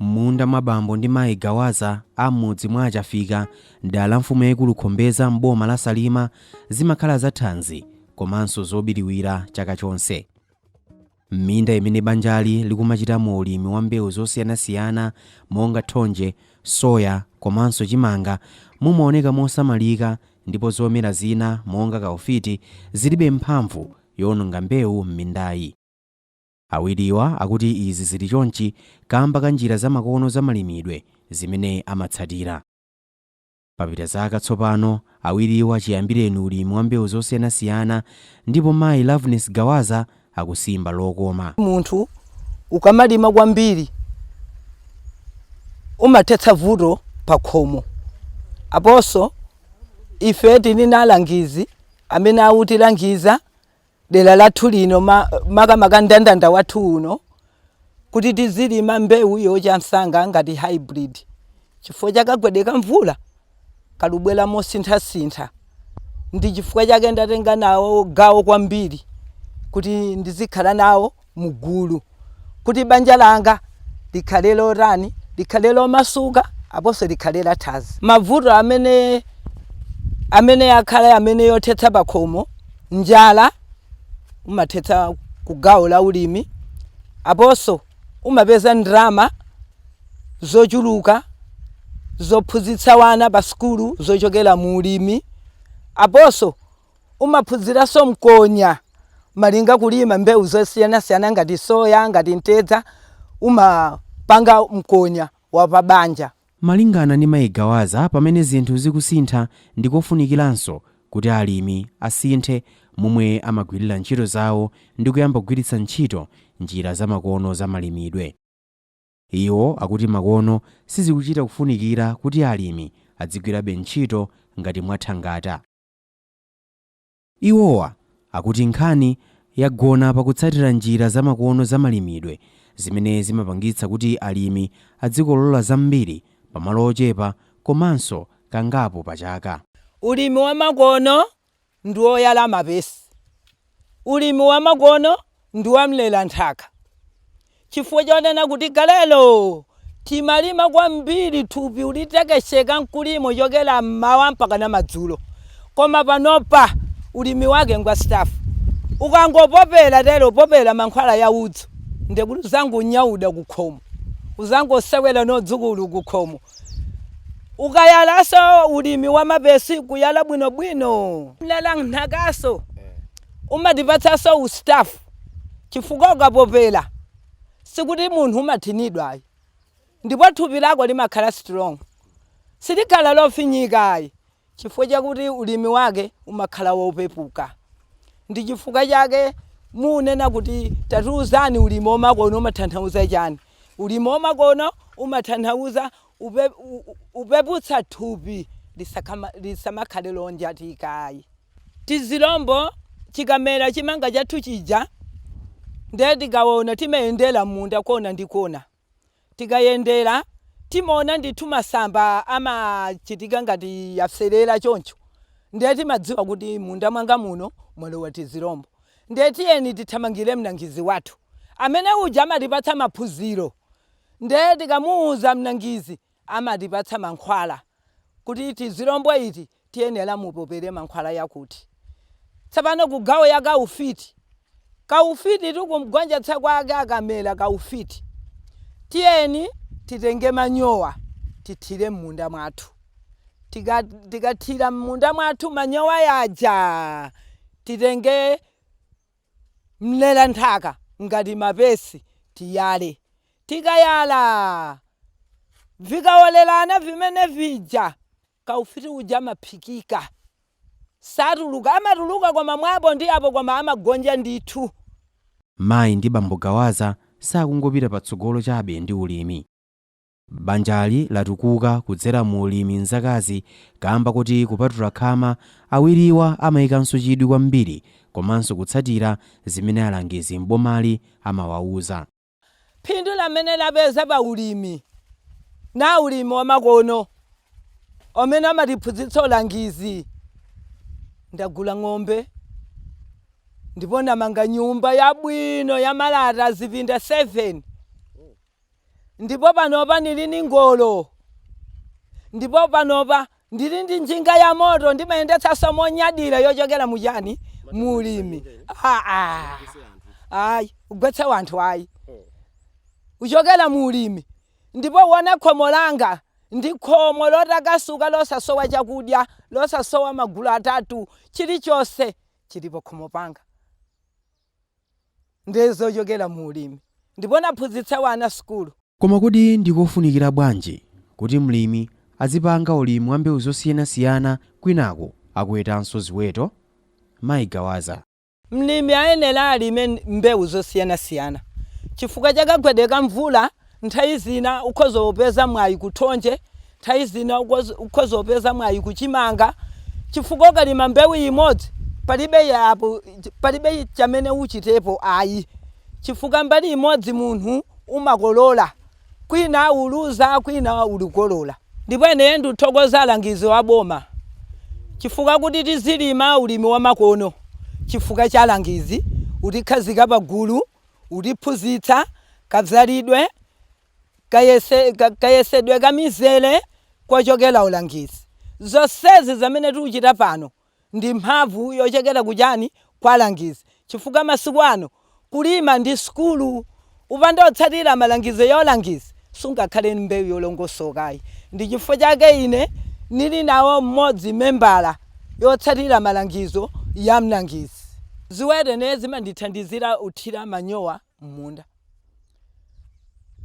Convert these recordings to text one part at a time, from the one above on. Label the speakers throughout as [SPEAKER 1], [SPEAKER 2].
[SPEAKER 1] M'munda mwa bambo ndi mayi Gawaza a m'mudzi mwa a Chafika m'dera la mfumu yaikulu Khombeza m'boma la Salima zimakhala za thanzi komanso zobiriwira chaka chonse. M'minda imene banjali likumachitamo ulimi wa mbewu zosiyanasiyana monga thonje, soya komanso chimanga mumaoneka mosamalika ndipo zomera zina monga kaufiti zilibe mphamvu yoononga mbewu m'mindayi. Awiriwa akuti izi zili chonchi kamba ka njira zamakono za malimidwe zimene amatsatira. Papita zaka tsopano awiriwa chiyambireni ulimi wa mbewu zosiyanasiyana ndipo mayi Loveness Gawaza akusimba lokoma.
[SPEAKER 2] Munthu ukamalima kwambiri umathetsa vuto pakhomo. Aponso ife tili na alangizi amene akutilangiza dera lathu lino makamaka ndandanda wathu uno kuti tizilima mbewu yocha msanga ngati hybrid chifukwa cha kagwedwe ka mvula kalikubwera mosinthasintha ndi chifukwa chake ndatenga nawo gawo kwambiri kuti ndizikhala nawo mugulu kuti banja langa likhale lotani likhale lomasuka aponso likhale lathanzi mavuto amene amene akhale amene yothetsa pakhomo njala umathetsa kugawo la ulimi aponso umapeza ndarama zochuluka zophunzitsa wana pa sukulu zochokera mu ulimi aponso Umaphunziranso mkonya malinga kulima mbewu zosiyanasiyana ngati soya, ngati mtedza, umapanga mkonya wa pa banja. Malingana ndi Mayi
[SPEAKER 1] Gawaza pamene zinthu zikusintha ndikofunikiranso kuti alimi asinthe momwe amagwirira ntchito zawo ndi kuyamba kugwiritsa ntchito njira za makono za malimidwe. Iwo akuti makono sizikuchita kufunikira kuti alimi adzigwirabe ntchito ngati mwathangata. Iwowa akuti nkhani yagona pa kutsatira njira zamakono za malimidwe zimene zimapangitsa kuti alimi adzikolola zambiri pamalo ochepa komanso kangapo pa chaka. Ulimi
[SPEAKER 2] wamakono ndi woyala mapesi. ulimi wamakono ndi wa mlera nthaka chifukwa chonena kuti kalelo timalima kwambiri thupi ulitekesheka mkulimo chokera mmawa mpakana madzulo koma panopa ulimi wake ngwa stafu ukangopopera tero popera mankhwala ya udzu ndekuti uzangonyauda kukhomo uzangosewera n'adzukulu kukhomo Ukayalaso ulimi wa mapesi kuyala bwino bwino mlera nthakaso umatipatsaso ustafu chifukwa ukapopela sikuti munhu umathinidwa ayi ndipo thupi lako limakhala strong silikhala lofinyika ayi chifukwa chakuti ulimi wake umakhala wopepuka. Ndi chifukwa chake munena kuti tatiuzani ulimi wamakono umathanhauza chani? Ulimi wamakono umathanhauza kupeputsa thupi lisamakhale lonjatika ayi. Tizilombo chikamera chimanga chathu chija nde tikaona timayendera mmunda kona ndi kona. tikayendera timaona ndithu masamba amachitika ngati yapserera choncho ndiye timadziwa kuti m'munda mwanga muno mwalowa tizirombo ndiye tiyeni tithamangire mlangizi wathu amene uja amatipatsa maphunziro ndiye tikamuuza mlangizi amatipatsa mankhwala kuti tizilombo iti tiyenera mupopere mankhwala yakuti tsopano kugawo ya kaufiti kaufititu kumgonjetsa kwake akamera kaufiti tiyeni titenge manyowa tithire mmunda mwathu tikathira mmunda mwathu manyowa yaja titenge Mlera nthaka ngati mapesi tiyale. Tikayala vikawolerana vimene vija kaufiti uja amaphikika. Satuluka, amatuluka koma mwa apo ndi apo koma amagonja ndithu. Mayi
[SPEAKER 1] ndi bambo Gawaza sakungopita patsogolo chabe ndi ulimi. Banjali latukuka kudzera mu ulimi m'zakazi kaamba koti kupatula khama, awiriwa amaikanso chidwi kwambiri komanso kutsatira zimene alangizi m'bomali amawauza. Phindu
[SPEAKER 2] lamene lapeza pa ulimi na ulimi wamakono umene amatiphunzitsa alangizi, Ndagula ng'ombe ndipo namanga nyumba yabwino yamalata zipinda 7. Ndipo panopa nili ndi ngolo. Ndipo panopa ndili ndi njinga yamoto, ndimayendetsanso monyadira yochokera mu chani? Mu ulimi. Ayi, ugwetse wanthu ayi. Kuchokera mu ulimi. Ndipo uwona khomo langa, ndi khomo lotakasuka losasowa chakudya, losasowa magulu atatu, chilichonse chili pakhomo panga. ndi zochokera mu ulimi ndipo naphunzitsa wana sukulu. Koma kodi ndi
[SPEAKER 1] kofunikira bwanji kuti mlimi adzipanga ulimi wa mbewu zosiyanasiyana kwinaku akuwetanso ziweto? Mayi Gawaza. Mlimi
[SPEAKER 2] ayenera alime mbewu zosiyanasiyana chifukwa cha kagwedwe ka mvula nthawi zina ukhoza kupeza mwayi ku thonje Nthawi zina ukhoza kupeza mwayi ku chimanga chifukwa ukalima mbewu imodzi palibe palibe chamene uchitepo ayi chifukwa mbali imodzi munthu umakolola kwina uluza kwina ulikolola. Ndipo ine ndithokoza alangizi wa boma chifukwa kuti tizilima ulimi wamakono chifukwa cha alangizi utikhazika pa gulu utiphunzitsa kadzalidwe, kayesedwe ka mizere kochokera ulangizi. Zonsezi zamene tikuchita pano ndi mphamvu yochokera ku chani? Kwa alangizi. Chifukwa masiku ano kulima ndi sukulu. Upanda otsatira malangizo ya ulangizi, sungakhale ndi mbewu yolongosoka ayi. Ndi chifukwa chake ine nili nawo mmodzi membala yotsatira malangizo ya mlangizi. Ziweto ine zimandithandizira uthira manyowa. m'munda.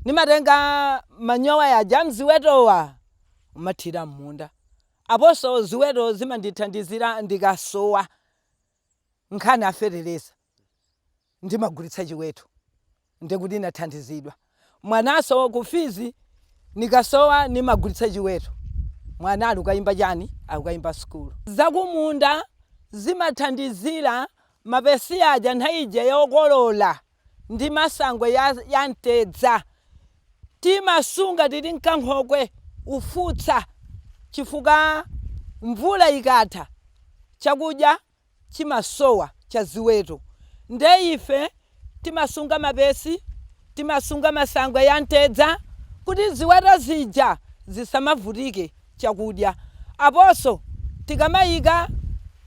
[SPEAKER 2] Nimatenga manyowa yaja amziwetowa umathira m'munda. Aponso ziweto zimandithandizira ndikasowa nkhani a fetereza ndimagulitsa chiweto ndi kuti nathandizidwa. Mwananso ku fizi nikasowa nimagulitsa chiweto mwana ali kuyimba chani akuyimba sukulu. Zakumunda zimathandizira Mapesi aja nthawi ija yokolola ndi masangwe ya mtedza timasunga tili m'kankhokwe, ufutsa, chifukwa mvula ikatha chakudya chimasowa cha ziweto. Ndiye ife timasunga mapesi, timasunga masangwe ya mtedza kuti ziweto zija zisamavutike chakudya. Aponso tikamayika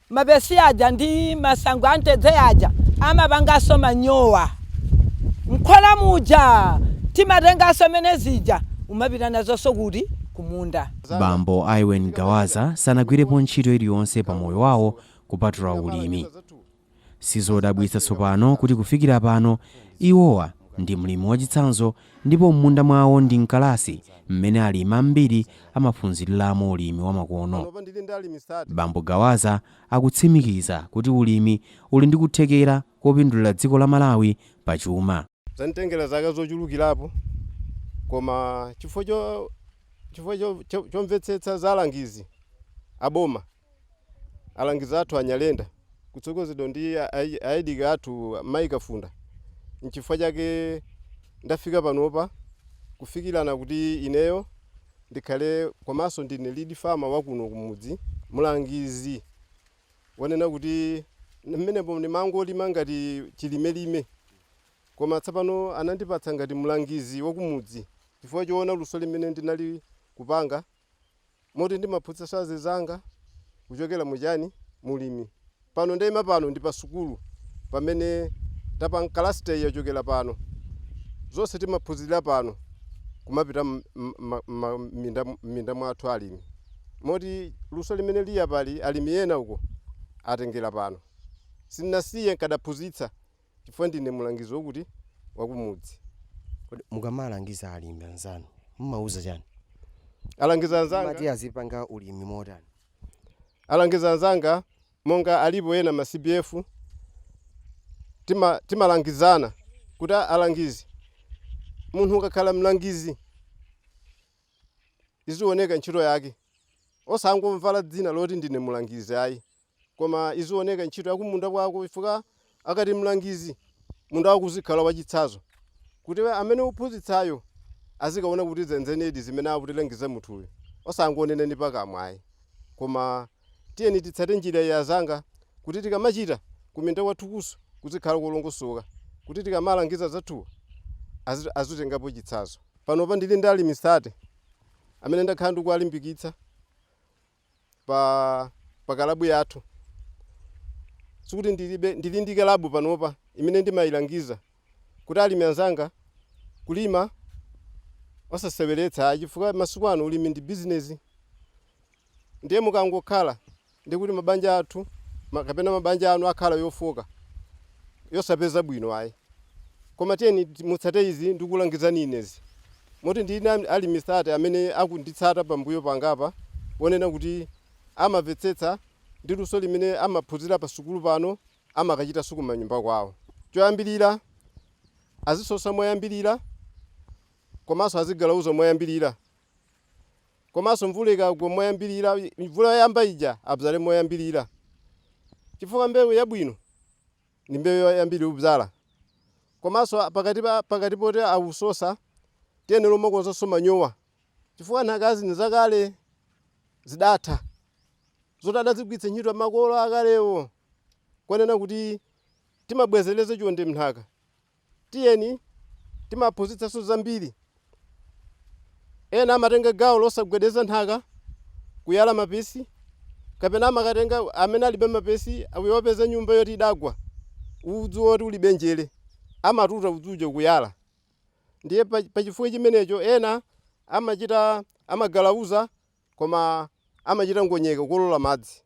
[SPEAKER 2] mapesi aja ndi masangwe a mtedza aja amapanganso manyowa. M'khola muja timatenganso mmene zija umapita nazonso kuti? Kumunda. Bambo
[SPEAKER 1] Iwen Gawaza sanagwirepo ntchito iliyonse pa moyo wawo kupatula ulimi. Sizodabwitsa tsopano kuti kufikira pano iwowa ndi mlimi wachitsanzo ndipo m'munda mwawo ndi m'kalasi mmene alimi ambiri amaphunziriramo ulimi wamakono. Bambo Gawaza akutsimikiza kuti ulimi uli ndi kuthekera kopindulira dziko la Malawi pa chuma. Zanditengera
[SPEAKER 3] zaka zochulukirapo, koma chifukwa chomvetsetsa za alangizi a boma alangizi athu a Nyalenda kutsogozedwa ndi AEDC athu mayi Kafunda nchifukwa chake ndafika panopa kufikilana kuti ineyo ndikhale komanso ndine lead farmer wa kuno kumudzi mlangizi kunena kuti mmenemo ndimangolima ngati chilimelime koma tsapano anandipatsa ngati mlangizi wa kumudzi chifukwa choona luso limene ndinali kupanga moti ndimaphunzitsanso azinzanga kuchokera mu chani, mu ulimi. Pano ndaima pano ndi pa sukulu pamene tapanga cluster iyi yachokera pano. Zonse timaphunzirira pano kumapita m'minda mwathu a alimi. Moti luso limene lili apali alimi ena uko atengera pano. Sindinasiye, ndikadaphunzitsa Chifukwa ndine mlangizi wokuti wakumudzi.
[SPEAKER 4] Kodi mukamalangiza alimi anzanu mumawauza chani? Alangizi
[SPEAKER 3] anzanga. Mumati azipanga ulimi
[SPEAKER 4] motani? Alangizi
[SPEAKER 3] anzanga monga alipo ena ma CBF timalangizana kuti alangizi munthu ukakhala mlangizi izioneka ntchito yake osangomvala dzina loti ndine mlangizi ayi. Koma izioneka ntchito yakumunda kwako chifukwa akati mlangizi munda wako uzikhala wachitsazo kuti amene uphunzitsayo azikaona kuti zenzenedi zimene akutilangiza munthuyu osangonena ndi pakamwa ayi koma tiyeni titsate njira iyi azanga kuti tikamachita kuminda kwathukuso kuzikhala kolongosoka kuti tikamalangiza azathuwa azitengapo chitsazo. Panopa ndili ndi alimi 30 amene ndakhala ndikuwalimbikitsa pa pa kalabu yathu sikuti ndilibe ndili ndi kalabu panopa imene ndimailangiza kuti alimi anzanga kulima osaseweretsa ayi chifukwa masiku ano ulimi ndi bizinezi ndiye mukangokhala ndikuti mabanja athu kapena mabanja anu akhala yofoka yosapeza bwino ayi koma tiyeni mutsate izi ndikulangizani inezi moti ndi na alimi 30 amene akunditsata pambuyo pangapa kunena kuti amamvetsetsa ndi luso limene amaphunzira pa sukulu pano amakachitanso kumanyumba kwawo. Choyambilira azisosa moyambilira komanso azigalauza moyambilira. Komanso mvula ikagwa moyambirira, mvula yoyamba ija abzale moyambirira chifukwa mbewu yabwino ndi mbewu yoyambirira kubzala. Komanso pakati poti awusosa tiyenera kumakonzanso manyowa chifukwa nthakazi ndi zakale zidatha zoti adazigwiritsa ntchito makolo akalewo kunena kuti timabwezeretsa chonde m'nthaka. Tiyeni timaphunzitsanso zambiri. Ena amatenga gawo losagwedeza nthaka, kuyala mapesi, kapena amakatenga amene alibe mapesi akapeza nyumba yoti idagwa, udzu woti ulibe njere, amatuta udzu ujo kuyala. Ndiye pa chifukwa chimenecho ena amachita amagalauza koma amachita ngonyeka kukolola madzi.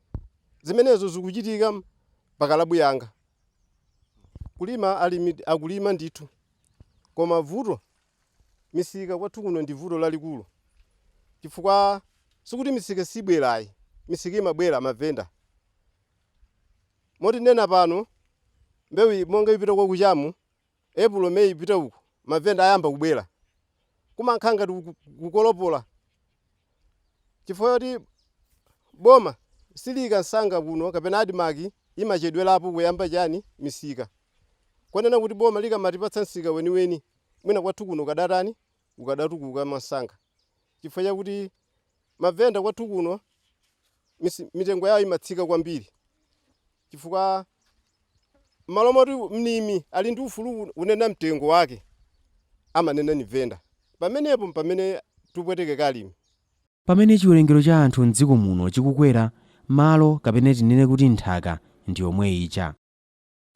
[SPEAKER 3] Zimenezo zikuchitika pa kalabu yanga. Kulima alimi akulima ndithu, koma vuto misika kwathu kuno ndi vuto lalikulu chifukwa sikuti misika sibwera ayi, misika imabwera mavenda. Moti ndinena pano mbewu monga ipita kwa kuchamu April may ipita uku mavenda ayamba kubwera kumakhala ngati kukolopola chifukwa choti boma siliika nsanga kuno kapena admarc imachedwelapo kuyamba chani misika kunena kuti boma likamatipatsa msika weniweni mwina kwathu kuno ukadatani ukadatukuka mwansanga chifukwa chakuti mavenda kwathu kuno mitengo yawo imatsika kwambiri. chifukwa m'malo moti mlimi ali ndi ufulu kunena mtengo wake, amanena ni venda. Pamenepo mpamene tupwetekeka alimi. Pamene
[SPEAKER 1] chiwerengero cha anthu m'dziko muno chikukwera, malo kapena tinene kuti nthaka ndi yomwe ija.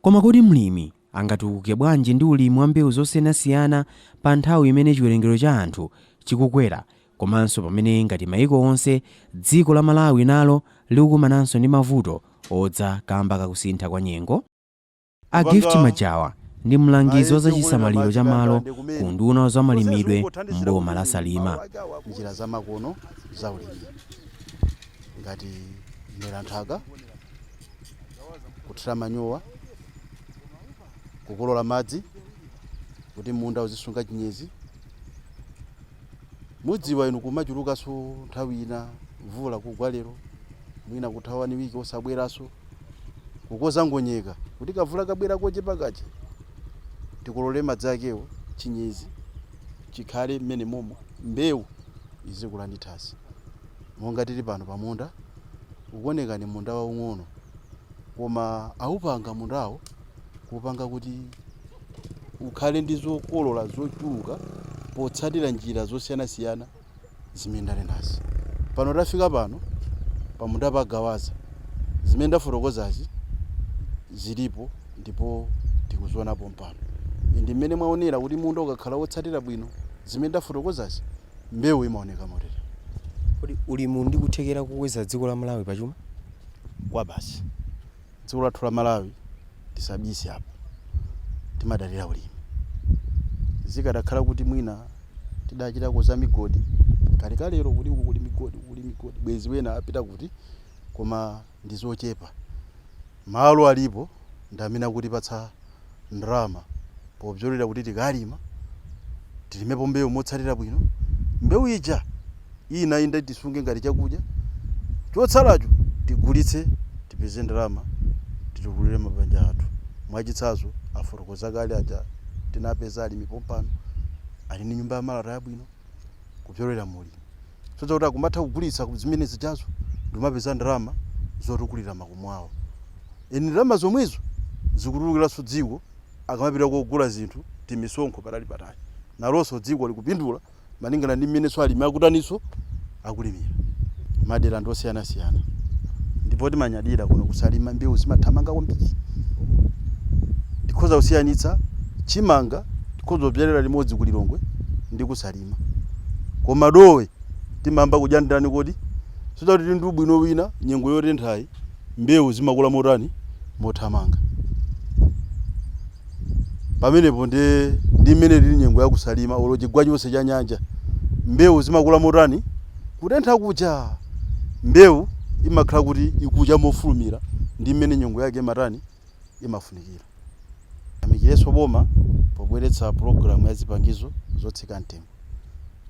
[SPEAKER 1] Koma kodi mlimi angatukuke bwanji ndi ulimi wa mbewu zosiyanasiyana pa nthawi imene chiwerengero cha anthu chikukwera komanso pamene ngati maiko onse dziko la Malawi nalo likukumananso ndi mavuto odza kamba ka kusintha kwa nyengo? A Gift Majawa ndi mlangizi wa za chisamaliro cha malo ku unduna wa za malimidwe m'boma la Salima. njira zamakono
[SPEAKER 5] za ulimi ngati mlera nthaka kuthira manyowa kukolola madzi kuti munda uzisunga chinyezi mudziwa inu kumachulukanso nthawi ina mvula kugwa lero mwina kutha wani wiki osabweranso kukoza ngonyeka kuti kamvula kabwera kochepa kaja tikolole madzi akewo chinyezi chikhale mmenemomo mbewu izikula ndi thanzi monga tili pano pamunda ukuoneka ndi munda waung'ono koma aupanga mundawo kupanga kuti ukhale ndi zokolola zochuluka potsatira njira zosiyanasiyana zimene ndanenazi pano tafika pano pamunda pa gawaza zimene ndafotokozazi zilipo ndipo tikuzionapo pompano ndi mmene mwaonera kuti munda ukakhala wotsatira bwino zimene ndafotokozazi mbewu imaoneka motere. Kodi
[SPEAKER 4] ulimi uli ndi kuthekera kokweza dziko la Malawi pa chuma? kwabasi.
[SPEAKER 5] Dziko lathu la Malawi tisabise apa, timadalira ulimi. Zikadakhala kuti mwina tidachitako za migodi kalekalelo kuti uku kuli migodi, uku kuli migodi bwenzi wena apita kuti? Koma. ndi zochepa. Malo alipo ndi amene akutipatsa ndalama popyolera kuti tikalima, tilimepo mbewu motsatira bwino, mbewu ija inde tisunge ngati chakudya, chotsalacho tigulitse tipeze ndalama titukulire mabanja athu. Mwachitsanzo, afotokoza kale aja tinapeza alimi pompano ali ndi nyumba ya malata yabwino. kupyolera mu ulimi soza kuti akumatha kugulitsa zimene zijazo ndikumapeza ndalama zotukulira makomo awo and ndalama zomwezo zikutukuliranso dziko akamapita kogula zinthu timisonkho patali patali nalonso dziko likupindula malingana ndi mmenenso alimi akutaninso akulimira madera ndi osiyanasiyana ndipo timanyadira kuno ku Salima mbewu zimathamanga kwambiri tikhoza kusiyanitsa chimanga tikhoza kubyalira limodzi ku Lilongwe ndi ku Salima koma dowe timayamba kudya ndani kodi soza kuti tili ndi ubwino wina nyengo yotenthayi mbewu zimakula motani mothamanga. pamenepo nde ndi mmene ilili nyengo ya kusalima olo chigwa chonse cha nyanja mbewu zimakula motani kutentha kuja mbewu imakhala kuti ikucha mofulumira ndi mmene nyengo yake imatani imafunikira tiyamikirenso boma pobweretsa pulogalamu ya zipangizo zotsika mtengo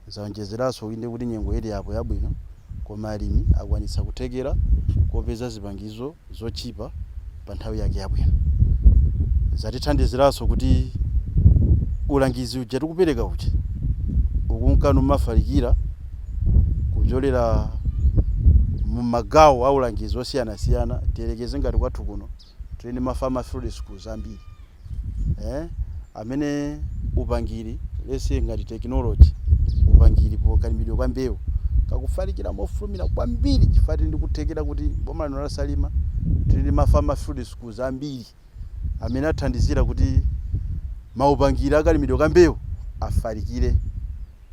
[SPEAKER 5] zaonjezeranso inde kuti nyengo ili apo yabwino koma alimi akwanitsa kuthekera kopeza zipangizo zotchipa pa nthawi yake yabwino. Zatithandiziranso kuti ulangizi uja tikupereka uja ukunka numafalikira kupyolera mu magawo a ulangizi osiyanasiyana. Tiyerekeze ngati kwathu kuno tili ndi ma Farmer Field Schools ambiri. eh amene upangiri lese ngati technology upangiri pa kalimidwe ka mbewu kakufalikira mofulumira kwambiri chifukwa tili ndikuthekera kuti boma lino la Salima tili ndi ma farmer field schools ambiri amene athandizira kuti maupangiri akalimidwe ka mbewu afalikire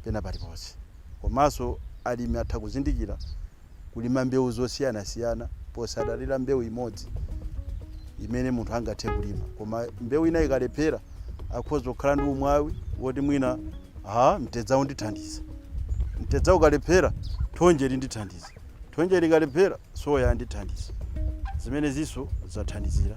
[SPEAKER 5] pena paliponse komanso alimi atha kuzindikira kulima mbewu zosiyanasiyana posadalira mbewu imodzi imene munthu angathe kulima koma mbewu ina ikalephera akhoza kukhala ndi umwawi woti mwina mtedza undithandiza mtedza ukalephera thonje lindithandiza thonje likalephera soya andithandiza zimenezinso zathandizira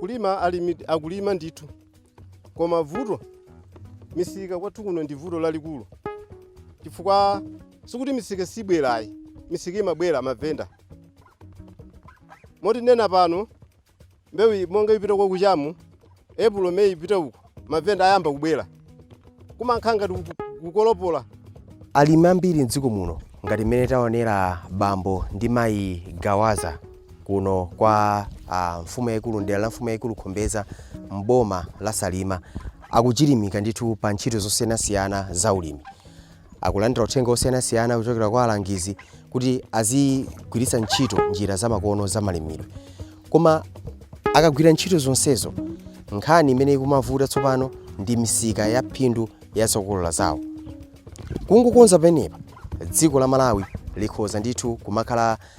[SPEAKER 3] kulima alimi akulima ndithu koma vuto misika kwathu kuno ndi vuto lalikulu chifukwa sikuti misika sibwera ayi misika imabwera mavenda moti ndinena pano Mbewu iyi monga ipita kwa kucha mu, April, May ipita uku, mavenda ayamba kubwera. Kumakhala ngati kuku- kukolopola. Alimi
[SPEAKER 4] ambiri mdziko muno ngati mmene taonera bambo ndi mayi Gawaza kuno kwa ah, mfumu yayikulu mdera la mfumu yayikulu Khombeza mboma la Salima akuchilimika ndithu pa ntchito zosiyanasiyana za ulimi. akulandira uthenga wosiyanasiyana kuchokera kwa alangizi kuti azigwiritsa ntchito njira zamakono zamalimidwe koma akagwira ntchito zonsezo nkhani imene ikumavuta tsopano ndi misika ya phindu ya zokolola zawo kungokonza penepapa dziko la malawi likhoza ndithu kumakhala